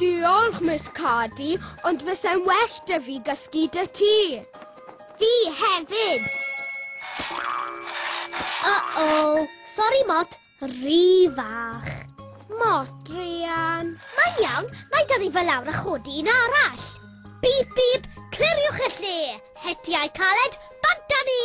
Diolch, Miss Cardy, ond fyse'n well 'da fi gysgu 'da ti. Fi hefyd! Uh-oh. Sori, Mot. Rhy fach. Mot, Rhian. Mae'n iawn, mae dod i fel lawr a chodi un arall. Bip, bip, cliriwch y lle. Hetiau caled, bant â ni!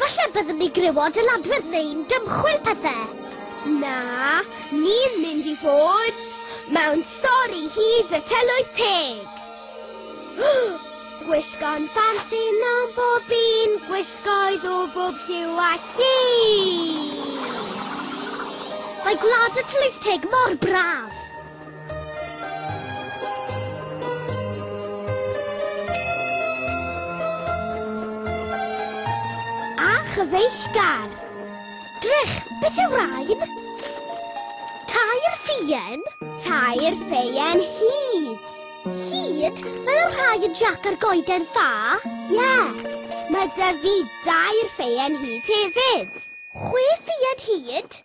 Falle byddwn ni griw o adeladwydd neu'n dymchwil pethe. Na, ni'n mynd i fod mewn stori hyd y tylwyth teg. Gwisgo'n ffansi mewn bob un gwisgoedd o bob lliw a lli. Mae gwlad y tylwyth teg mor braf. A chyfeillgar. Drych, beth yw rain? Tair ffien. Tair ffeien hyd. Hyd? Fel y rhai y Jack ar goeden ffa? Ie. Yeah. Mae dy fi dair ffeien hyd hefyd. Chwe ffeien hyd?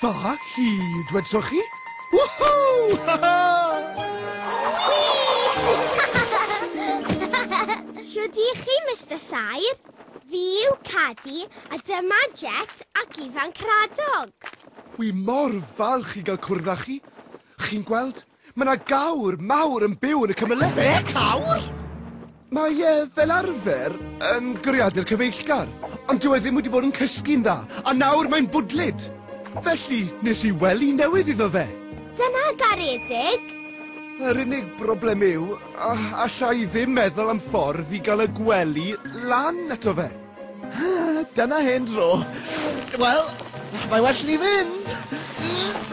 Fa hi, dwedsoch chi? Whoo-hoo! Ha ha! Shwd i chi, Mister Saer? Fi yw Cadi, a dyma Jet ac Ifan Cradog. Wi mor falch i gael cwrdd â chi. Chi'n gweld, Mae 'na gawr mawr yn byw yn y cymylau. Be? Cawr? Mae e, fel arfer, yn goriadu'r cyfeillgar, ond dyw e ddim wedi bod yn cysgu'n dda, a nawr mae'n bwdlyd. Felly, nes i wely newydd iddo fe. Dyna garedig! Yr unig broblem yw, a- alla i ddim meddwl am ffordd i gael y gwely lan ato fe. Dyna hen dro. Wel, mae well ni fynd.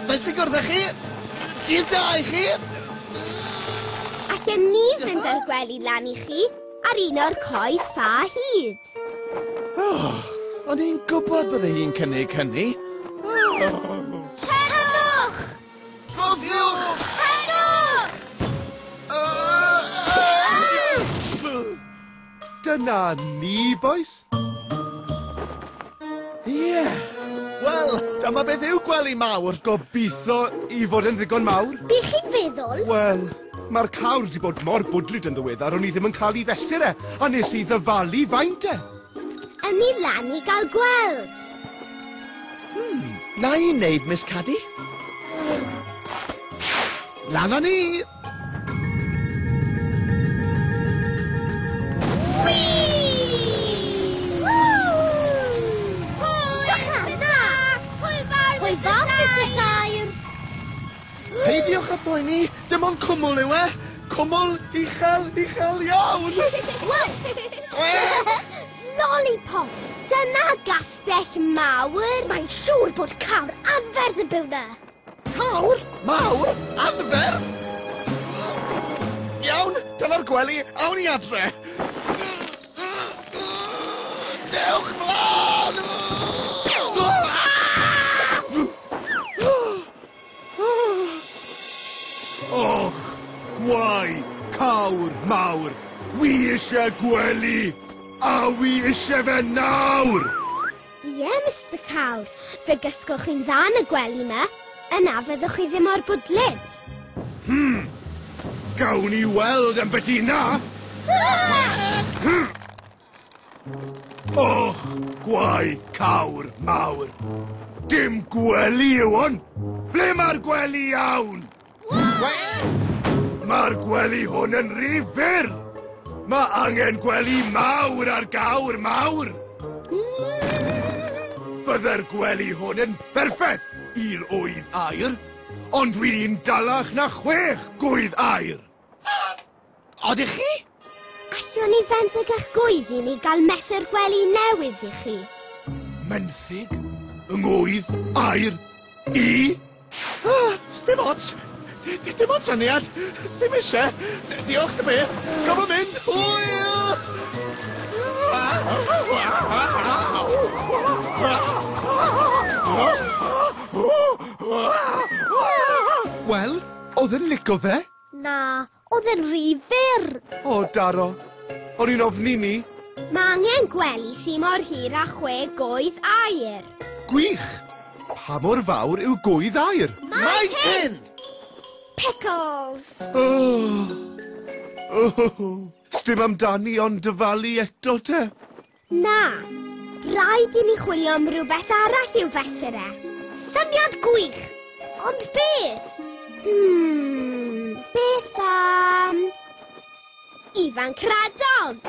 Mae'n sy'n gwrdd â chi. Dydd da i chi. Allen ni fynd â'r gwely lan i chi ar un o'r coed ffa hyd. Oh, o'n i'n gwybod bydde hi'n cynnig hynny. Dyna ni, bois. Ie! Wel, dyma beth yw gwely mawr. Gobeithio i fod yn ddigon mawr. Be chi'n feddwl? Wel, mae'r cawr wedi bod mor bwdlyd yn ddiweddar o'n i ddim yn cael i fesur e, a nes i ddyfalu faint e. Yn ni lan i gael gweld. Hmm, na i'n neud, Miss Caddy. Lan â ni! Peidiwch â poeni, dim ond cwmwl yw e. Cwmwl uchel, uchel iawn. Lollipop, dyna gastell mawr. Mae'n siŵr bod cawr anferth yn byw na. Cawr! Mawr! Anfer! Iawn, dyna'r gwely, awn i adre! Dewch mlaen! Och, wai, cawr mawr, wi eisiau gwely, a wi eisiau fe nawr! Ie, Mister Cawr, fe gysgoch chi'n dda yn y gwely 'ma. Yna fyddwch chi ddim mor bwdlyd. Hmm. Gawn ni weld am beth i 'na! Hmm. Och, gwaed cawr mawr. Dim gwely yw hwn! Ble mae'r gwely iawn? Mae'r gwely hwn yn rhy fyr! Mae angen gwely mawr ar gawr mawr! Byddai'r gwely hwn yn berffaith i'r ŵydd aer, ond dwi'n dalach na chwech gŵydd aer! Odych chi? Allwn ni fenthyg a'ch gwydd i ni gael mesur gwely newydd i chi. Menthyg? Yng ngwydd? Air? I? Ah, sdim ots. Dim ots aniad. Sdim eisiau. Diolch dy beth. Gofyn yn mynd. Hwyl! Wel, Odd e'n lico fe? Na, odd e'n rhy fyr. O, Daro. O'n i'n ofni 'ny. Mae angen gwely sy mor hir â chwe goedd aer. Gwych! Pa mor fawr yw goedd aer? Mae hyn! Pickles! Oh! Oh! Sdim amdani ond dyfalu eto te. Na, rhaid i ni chwilio am rhywbeth arall i'w fesur e. Syniad gwych! Ond beth? Hmm, beth am... Ifan Cradog!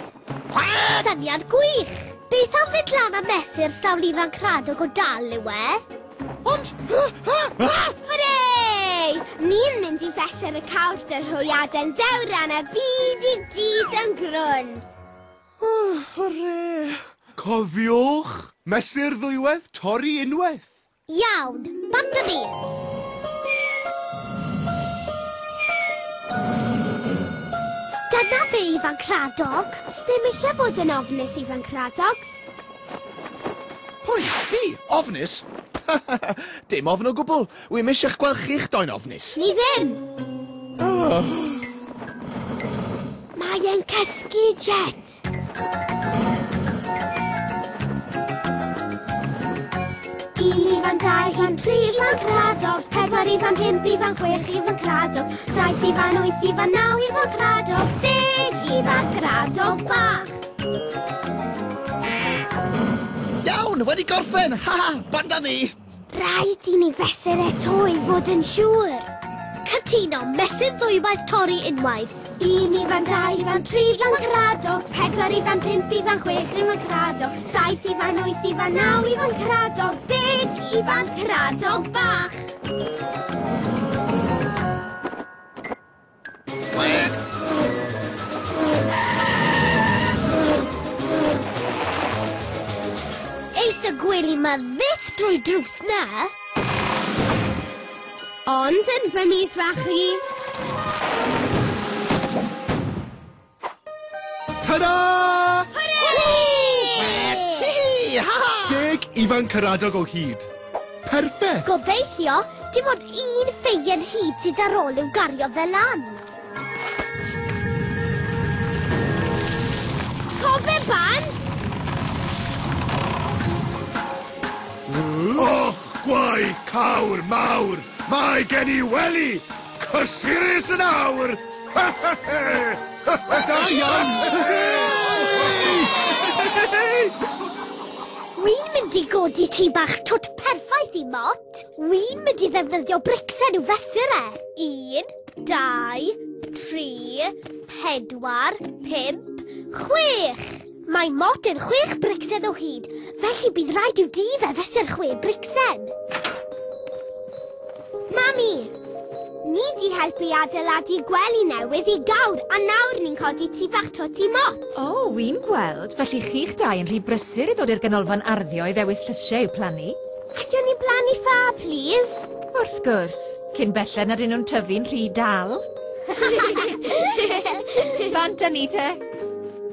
Syniad gwych! Beth am fynd lan a mesur sawl Ifan Cradog o dal yw e? Ond... Hwre! Ni'n mynd i fesur y cawr dy'r hwyaden dewran a byd i gyd yn grwn. Hwrê! Cofiwch! Mesur ddwywaith, torri unwaith! Iawn! Bant â fi! Dyna fe, Ifanc Rhadog! Does dim eisiau bod yn ofnus, Ifanc Rhadog. Pwy? Fi? Ofnus? Dim ofn o gwbl! Wi'm eisiau'ch gweld chi'ch doi'n ofnus. Ni ddim! Mae e'n cysgu, Jet! Un ifan, dau ifan, tri ifan cradog, pedwar ifan, pump ifan, chwech ifan cradog, saith ifan, wyth ifan, naw ifan cradog, deg ifan cradog bach. Iawn, wedi gorffen! Ha ha, banda ni! Rhaid i ni fesur eto i fod yn siŵr. Cytuno, mesur ddwywaith torri unwaith. Un i fan dau i fan tri i fan Caradog, pedwar i fan pump i fan chwech i fan Caradog, saith i fan wyth i fan naw i fan Caradog, deg i fan Caradog bach. Eith y gwely ma fyth drwy drws na! Ond yn fy mis fach i... Ta-da! Deg ifan caradog o hyd. Perffaith! Gobeithio, dim ond un ffeien hyd sydd ar ôl i'w gario fe lan. Cofe ban! Och, gwaith cawr mawr! Mae gen i wely! Cysurus yn awr! Da iawn! Wi'n mynd i godi ti bach twt perffaith i mot. Wi'n mynd i ddefnyddio bricsen i'w fesur e. Un, dau, tri, pedwar, pump, chwech. Mae Mod yn chwech bricsen o hyd, felly bydd rhaid i'w dŷ fe fesur chwe bricsen. Mami! Ni di helpu adeiladu gwely newydd i gawr a nawr ni'n codi ti bach twt i Mot. O, oh, wy'n gweld, felly chi'ch dau yn rhy brysur i ddod i'r ganolfan arddio i ddewis llysiau i'w plannu. Allwn ni blannu ffa, plîs? Wrth gwrs, cyn belled nad nhw'n tyfu'n rhy dal. Bant â ni te!